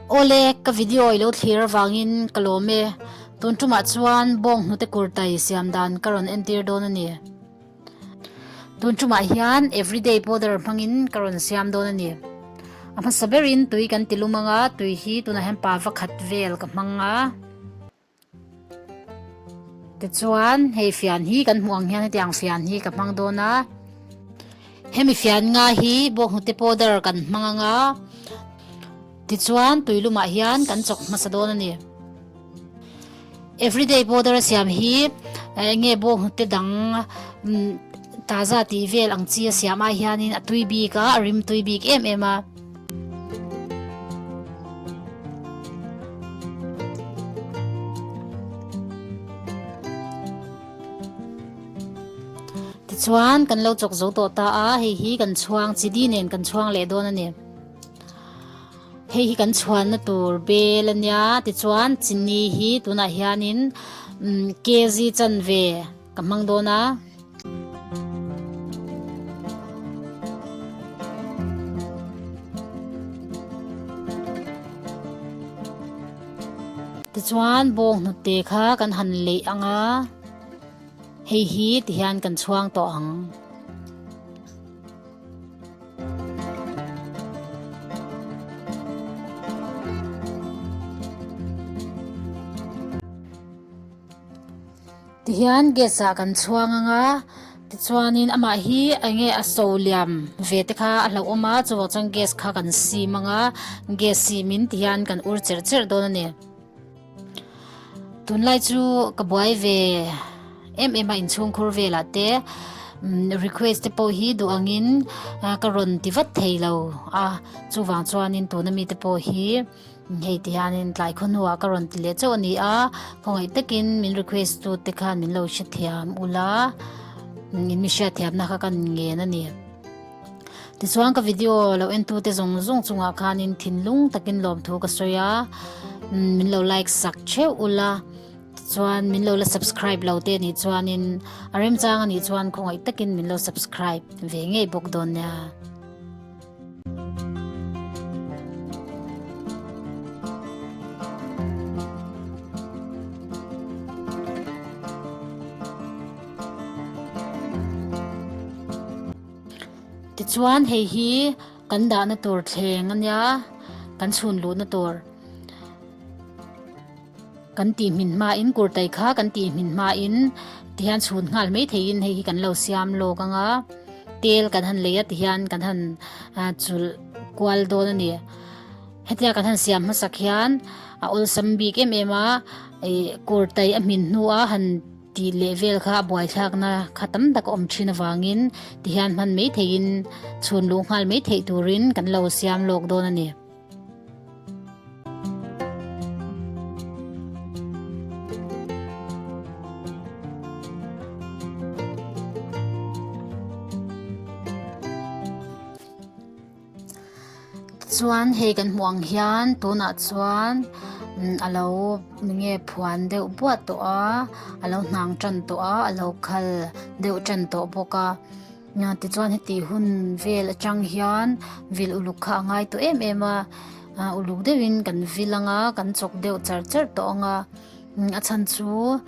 Aw le, ka video i lo thlir avangin ka lawm e. Tun ṭumah chuan bawng hnute kurtai siam dan ka rawn entir dawn a ni. Tun ṭumah hian everyday powder hmangin ka rawn siam dawn a ni. A hmasa berin tui kan ti lumang a, tui hi tunah hian pava khat vel ka hmang a. Tichuan hei fian hi kan hmuh ang hian heti ang fian hi ka hmang dawn a. Hemi fian nga hi bawkhnute powder kan hmang ang a. Tichuan tui lumah hian kan chawk hmasa dawn a ni. Everyday powder a siam hi enge bawkhnute dang taza tih vel ang chi a siam ai hian in a tui bik a, a rim tui bik em em a. Tichuan kan lo chawk zo tawh ta a, hei hi kan chhuang chi di nen kan chhuang leh dawn a ni. Hei hi kan chhuanna tur bel a nia, tichuan chini hi tunah hianin kg chan ve, Ka hmang dawn a. Tichuan bawng hnute kha kan han leh ang a. Hei hi ti hian kan chhuang tawh ang. Tihian gas ah kan chhuang ang a, tichuanin amah hi eng nge a so liam ve te kha a hlauhawm a, chuvang chuan gas kha kan sim ang a, gas sim in tihian kan ur cherh cherh dawn a ni. Tunlai chu ka buai ve em em a inchhungkhur velah te request te pawh hi duh angin ka rawn ti vat thei lo a, chuvang chuanin tuna mite pawh hi. Hei ti hianin tlai khaw hnuah ka rawn ti leh chauh a ni a, khawngaih takin min request tu te khan min lo hrethiam ula, min hriatthiamna kha kan ngen a ni. Tichuan ka video lo en tu te zawng zawng chungah khanin thinlung takin lawm thu ka sawi a, min lo like sak theuh ula, tichuan min lo la subscribe lo te nih chuanin a remchang a nih chuan khawngaih takin min lo subscribe ve ngei bawk dawn nia. Tichuan hei hi kan dahna tur thleng a nia, kan chhun luhna tur. Kan tih hmin hmain kurtai kha kan tih hmin hmain tihian chhun nghal mai theiin hei hi kan lo siam lawk anga tel kan han lei a tihian kan han chulh kual dawn a ni. Hetia kan han siam hmasak hian a awlsam bik em em a, kurtai a hmin hnua han tih leh vel kha a buaithlakna kha tam tak a awm thin avangin tihian hman mai theiin chhun luh nghal mai theih turin kan lo siam lawk dawn a ni. chuan hei kan hmuh ang hian tunah chuan umm a lo nge phuan deuh buat tawh a a lo hnang tan tawh a a lo khal deuh tan tawh bawk a. Nate chuan heti hun vel atang hian vil uluk kha a ngai tawh em em a, a uluk deuhin kan vil ang a, kan chawk deuh char char tawh ang a, a chhan chu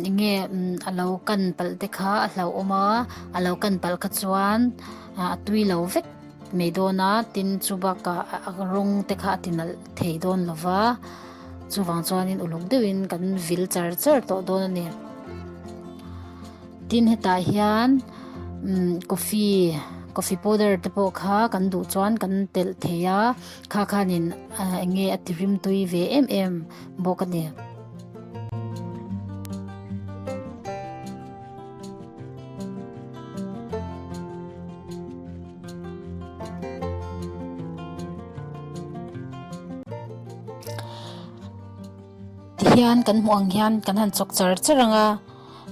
eng nge a lo kan palh te kha a hlauhawm a, a lo kan palh kha chuan a tui lo vek mai dawn a, tin chu bakah a rawng te kha a tinalh thei dawn lo va, chuvang chuan uluk deuhin kan vil char char tawh dawn a ni. Tin hetah hian coffee, coffee powder te pawh kha kan duh chuan kan telh thei a, kha khanin eng nge a ti rim tui ve em em bawk a ni. Ti hian kan hmuh ang hian kan han chawk char char ang a.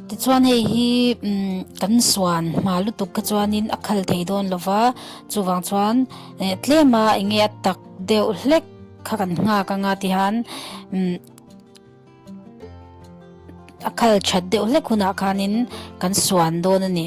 Tichuan hei hi kan suan hma lutuk kha chuanin a khal thei dawn lo va, chuvang chuan tlema eng nge a tak deuh hlek kha kan nghak anga tihan a khal that deuh hlek hunah khanin kan suan dawn a ni.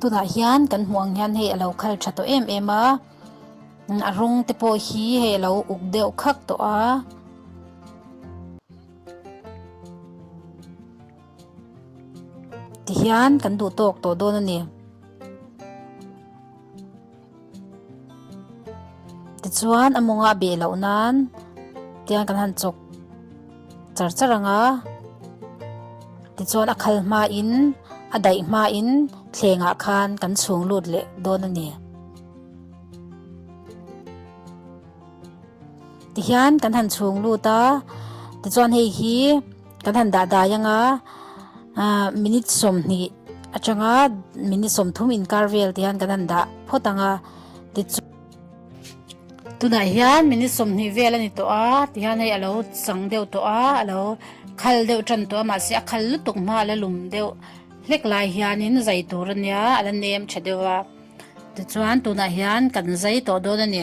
Tunah hian kan hmuh ang hian hei a lo khal tha tawh em em a, a rawng te pawh hi hei a lo uk deuh khak tawh a. Tihian kan duh tawk tawh dawn a ni. Tichuan a mawngah beh loh nan tiang kan han chawk char char ang a. Tichuan a khal hma in a daih hma in thlengah khan kan chhung lut leh dawn a ni. Tihian kan han chhung lut a, tichuan hei hi. Kan han dah dai anga minute sawmhnih atanga minute sawmthum inkar vel te hian kan han dah phawt anga tichu tunah hian minute sawmhnih vel a ni tawh a ti hian hei a lo chang deuh tawh a a lo khal deuh tan tawh a mahse a khal lutuk hma a la lum deuh hlek lai hianin zai tur a nia a la nem tha deuh a tichuan tunah hian kan zai tawh dawn a ni.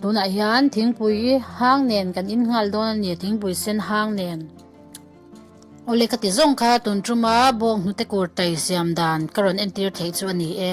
Tunah hian thingpui hang nen kan in nghal dawn a ni, thingpui sen hang nen. Awle ka ti zawng kha tun tuma bawng hnute kur tai siam dan ka rawn entir theih chu a ni e.